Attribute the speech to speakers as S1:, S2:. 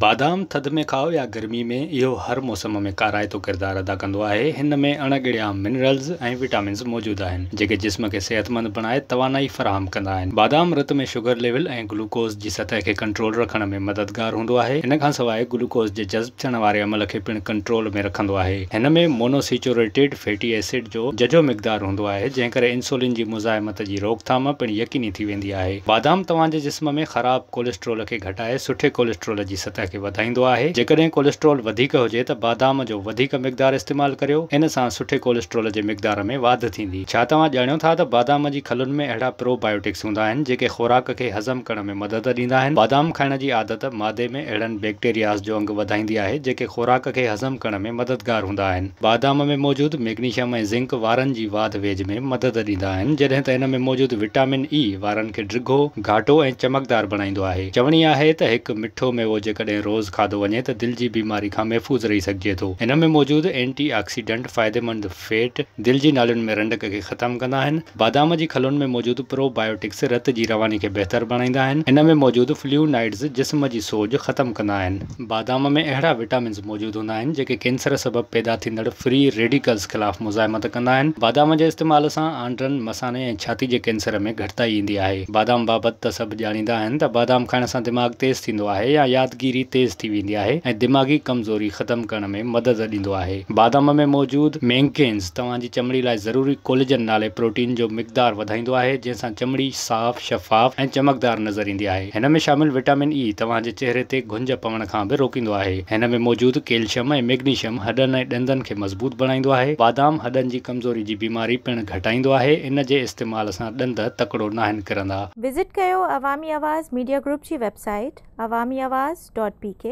S1: بادام ٿڌ ۾ کائو يا گرمي ۾ اهو هر موسم ۾ ڪارائتو ڪردار ادا ڪندو آهي، هن ۾ اڻ ڳڙيا منرلز ۽ وٽامنز موجود آهن، جيڪي جسم کي صحتمند بڻائي توانائي فراهم ڪندا آهن. بادام رت ۾ شگر ليول ۽ گلوڪوز جي سطح کي ڪنٽرول رکڻ ۾ مددگار هوندو آهي، ان کانسواء گلوڪوز جي جذب. اچڻ واري عمل کي پڻ ڪنٽرول ۾ رکندو آهي. هن ۾ مونوسيچوريٽيڊ فيٽي ايسڊ جو ججهو مقدار هوندو آهي، جنهن ڪري انسولين جي مزاحمت جي روڪٿام پڻ يقيني ٿي ويندي آهي. بادام توهان جي جسم ۾ خراب ڪوليسٽرول کي گهٽائي سٺي ڪوليسٽرول جي سطح کي وڌائيندو آهي. جيڪڏهن ڪوليسٽرول وڌيڪ هجي ته بادام جو وڌيڪ مقدار استعمال ڪريو. ان سان سٺي ڪوليسٽرول جي مقدار ۾ واڌ ٿيندي. ڇا توهان ڄاڻيو ٿا ته بادام جي کلن ۾ اهڙا پرو بائيوٽڪس هوندا آهن، جيڪي خوراڪ کي هضم ڪرڻ ۾ ۾ مدد ڏيندا آهن. بادام کائڻ جي عادت معدي ۾ اهڙن بيڪٽيرياز جو انگ وڌائيندي آهي جيڪي خوراڪ کي هضم ڪرڻ ۾ مددگار هوندا آهن. بادام ۾ موجود ميگنيشم ۽ زنڪ وارن جي واڌ ويجهه ۾ مدد ڏيندا آهن جڏهن ته ان ۾ موجود وٽامن اي وارن کي ڊگهو، گهاٽو ۽ چمڪدار بڻائيندو آهي. چوڻي آهي ته هڪ مٺو ميوو جيڪڏهن روز کاڌو وڃي ته دل جي بيماري کان محفوظ رهي سگهجي ٿو. ان ۾ موجود اينٽي آڪسيڊنٽ فائديمند فيٽ دل جي نالين ۾ رنڊڪ کي ختم ڪندا آهن. بادام جي کلن ۾ موجود پرو بائيوٽڪس رت جي رواني کي بهتر بڻائيندا آهن. ان ۾ موجود فليو نائيڊز جسم جي سوڄ ختم ڪندا آهن. بادام ۾ اهڙا وٽامنز موجود هوندا آهن جيڪي ڪينسر سبب پيدا ٿيندڙ فري ريڊيڪلز خلاف مزاحمت ڪندا آهن. بادام جي استعمال سان آنڊرن، مثاني ۽ ڇاتي جي ڪينسر ۾ گهٽتائي ايندي آهي. بادام بابت ته سڀ ڄاڻيندا آهن ته بادام کائڻ سان دماغ تيز ٿيندو آهي يا يادگيري تيز ٿي ويندي آهي ۽ دماغي ڪمزوري ختم ڪرڻ ۾ مدد ڏيندو آهي. بادام ۾ موجود مينڪينز توهان جي چمڙي لاء ضروري ڪوليجن نالي پروٽين جو مقدار وڌائيندو آهي، جنهن سان چمڙي صاف، شفاف ۽ چمڪدار نظر ايندي آهي. هن ۾ شامل وٽامن اي توهان جي چهري تي گهنج پوڻ کان به روڪيندو آهي. هن ۾ موجود ڪيلشم ۽ ميگنيشم هڏن ۽ ڏندن کي مضبوط بڻائيندو آهي. بادام هڏن جي ڪمزوري جي بيماري پڻ گهٽائيندو آهي. ان جي استعمال سان ڏند تڪڙو ناهن ڪرندا. وزٽ
S2: ڪيو عوامي آواز ميڊيا گروپ جي
S1: web
S2: site Awami Awaz dot P ڪي.